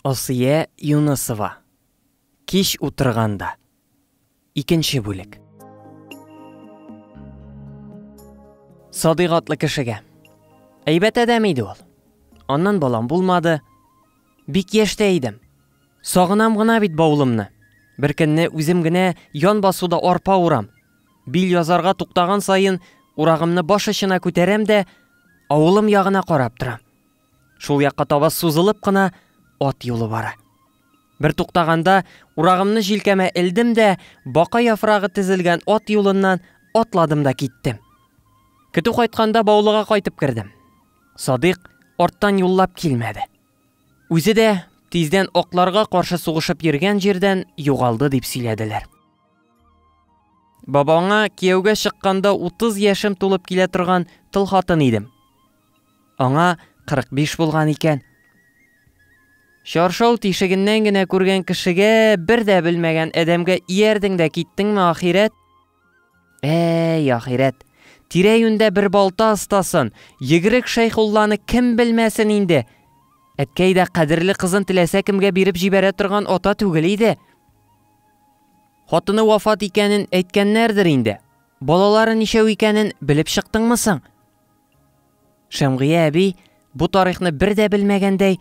Асия Юнысова Кич утырганда Икенче бүлек Садыйк атлы кешегә Әйбәт адәм иде ул. Аннан балам булмады. Бик яшьтә идем. Сагынам гына бит баулымны. Беркөнне үзем генә ян басуда арпа урам. Бил язарга туктаган саен урагымны баш очына күтәрәм дә, авылым ягына карап торам. Шул якка таба сузылып кына ат юлы бара. Бер туктаганда, урагымны җилкәмә элдем дә, бака яфрагы тезелгән ат юлыннан атладым да киттем. Көтү кайтканда баулыга кайтып кердем. Садык арттан юллап килмәде. Үзе дә тиздән акларга каршы сугышып йөргән җирдән югалды дип сөйләделәр. Бабаңа кияүгә чыкканда 30 яшем тулып килә торган тыл хатын идем. Аңа 45 булган икән. Чаршау тишегеннән генә күргән кешегә, бер дә белмәгән адәмгә иярдең дә киттеңме, ахирәт? Әй, ахирәт! Тирә-юньдә бер балта остасын, Егрек Шәйхулланы кем белмәсен инде! Әткәй дә кадерле кызын теләсә кемгә биреп җибәрә торган ата түгел иде. Хатыны вафат икәнен әйткәннәрдер инде. Балалары ничәү икәнен белеп чыктыңмы соң? Шәмгыя әби, бу тарихны бер дә белмәгәндәй,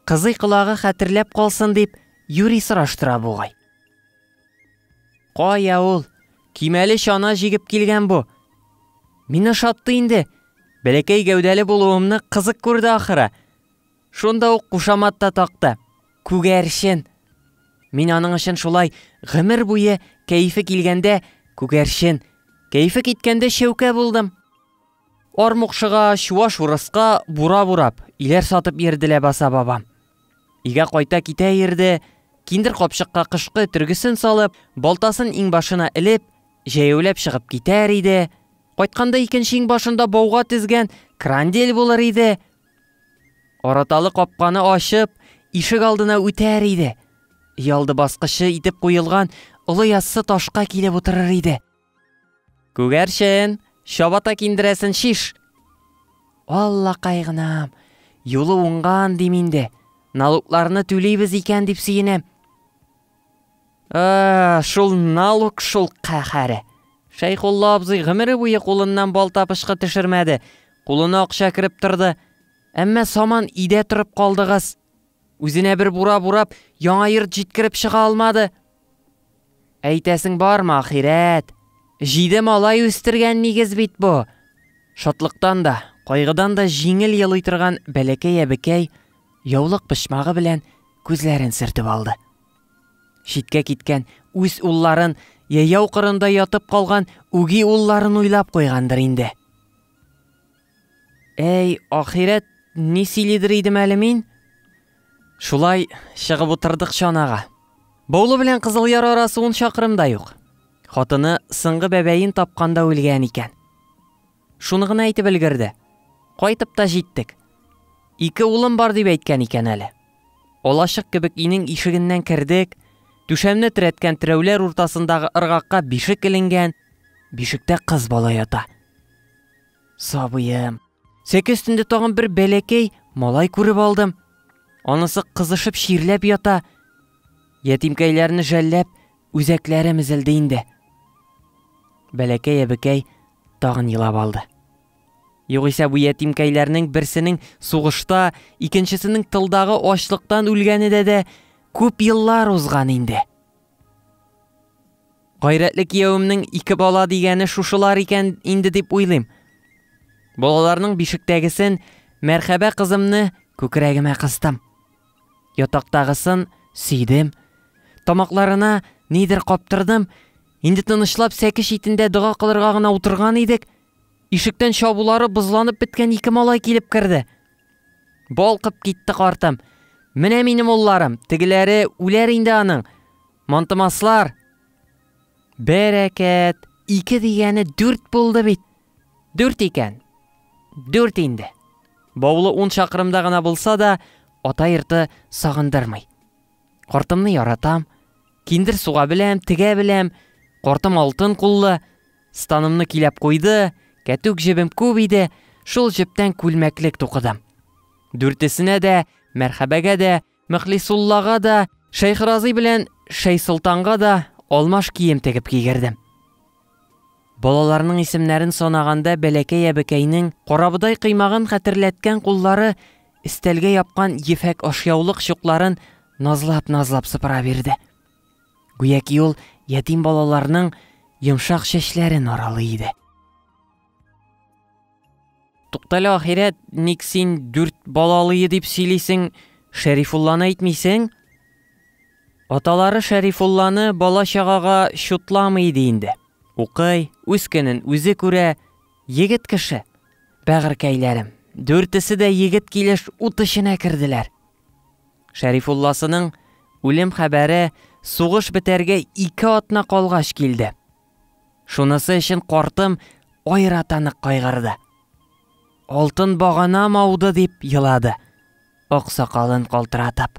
кызый колагы хәтерләп калсын дип, юри сораштыра бугай. Кая ул? Кимәле чана җигеп килгән бу. Мин ошатты инде. Бәләкәй гәүдәле булуымны кызык күрде ахыры. Шунда ук кушамат та такты. Күгәрчен! Мин аның өчен шулай гомер буе кәефе килгәндә күгәрчен, кәефе киткәндә чәүкә булдым. Армукшыга, чуаш урыска бура бурап, иләр сатып йөрде ләбаса бабам. Өйгә кайта китә йөрде, киндер капчыкка кышкы төргесен салып, балтасын иңбашына элеп, җәяүләп чыгып китәр иде, кайтканда икенче иңбашында бауга тезгән крандель булыр иде, Араталы капканы ачып, ишек алдына үтәр иде. Ялды баскычы итеп куелган олы яссы ташка килеп утырыр иде. Күгәрчен, чабата киндерәсен шиш. Алла кайгынам, юлы уңган дим инде. Налукларны түлибез икән дип сөенәм. А, шул налук шул кахаре. Шәйхулла абзый гомере буе кулыннан бал тапышкы төшермәде. Кулына акча кереп торды. Әмма саман идә торып калдыгыз. Үзенә бер бура бурап, яңа йорт җиткереп чыга алмады. Әйтәсең бармы, ахирәт? Җиде малай үстергән нигез бит бу. Шатлыктан да, кайгыдан да җиңел елый торган бәләкәй әбекәй Яулык почмагы белән күзләрен сөртеп алды. Читкә киткән үз улларын, яяу кырында ятып калган үги улларын уйлап куйгандыр инде. Әй, ахирәт, ни сөйлидер идем әле мин? Шулай чыгып утырдык чанага. Баулы белән Кызыл Яр арасы ун чакрымда юк. Хатыны сыңгы бәбәен тапканда үлгән икән. Шуны гына әйтеп өлгерде. Кайтып та җиттек. Ике улым бар дип әйткән икән әле. Алачык кебек инең ишегеннән кердек, түшәмне терәткән терәүләр уртасындагы ыргакка бишек эленгән, бишектә кыз бала ята. Сабыем, сәке өстендә тагын бер бәләкәй малай күреп алдым. Анысы кызышып чирләп ята. Ятимкәйләрне жәлләп, Үзәкләрем өзелде инде. Бәләкәй әбекәй тагын елап алды. Югыйсә бу ятимкәйләрнең берсенең сугышта, икенчесенең тылдагы ачлыктан үлгәне дә дә күп еллар узган инде. Гайрәтле кияүемнең ике бала дигәне шушылар икән инде дип уйлыйм. Балаларның бишектәгесен, мәрхәбә кызымны күкрәгемә кыстым. Ятактагысын сөйдем, тамакларына нидер каптырдым, инде тынычлап сәке читендә дога кылырга гына утырган идек, ишектән чабулары бозланып беткән ике малай килеп керде. Балкып китте картым. Менә минем улларым, тегеләре үләр инде аның. Мантымаслар, Бәрәкәт! Ике дигәне дүрт булды бит! Дүрт икән! Дүрт инде! Баулы ун чакрымда гына булса да, ата йорты сагындырмый. Картымны яратам, киндер суга беләм, тегә беләм, картым алтын куллы, станымны киләп куйды, кәтүк җебем күп иде, шул җептән күлмәклек тукыдым. Дүртесенә дә, мәрхәбәгә дә, Мөхлисуллага да, Шәйхразый белән Шәйсолтанга да алмаш кием тегеп кигердем. Балаларның исемнәрен санаганда бәләкәй әбекәйнең карабыдай кыймагын хәтерләткән куллары истәлгә япкан ефәк ашъяулык чукларын назлап-назлап сыпыра бирде. Гүяки ул ятим балаларның йомшак чәчләрен аралый иде. Туктале ахирәт, ник син дүрт балалые дип сөйлисең, Шәрифулланы әйтмисең? Аталары Шәрифулланы бала-чагага чутламый иде инде. Укый, үз көнен үзе күрә, егет кеше. Бәгырькәйләрем, дүртесе дә егет килеш ут эченә керделәр. Шәрифулласының үлем хәбәре сугыш бетәргә ике атна калгач килде. Шунысы өчен картым аерата нык кайгырды. Алтын баганам ауды, дип елады, ак сакалын калтыратып.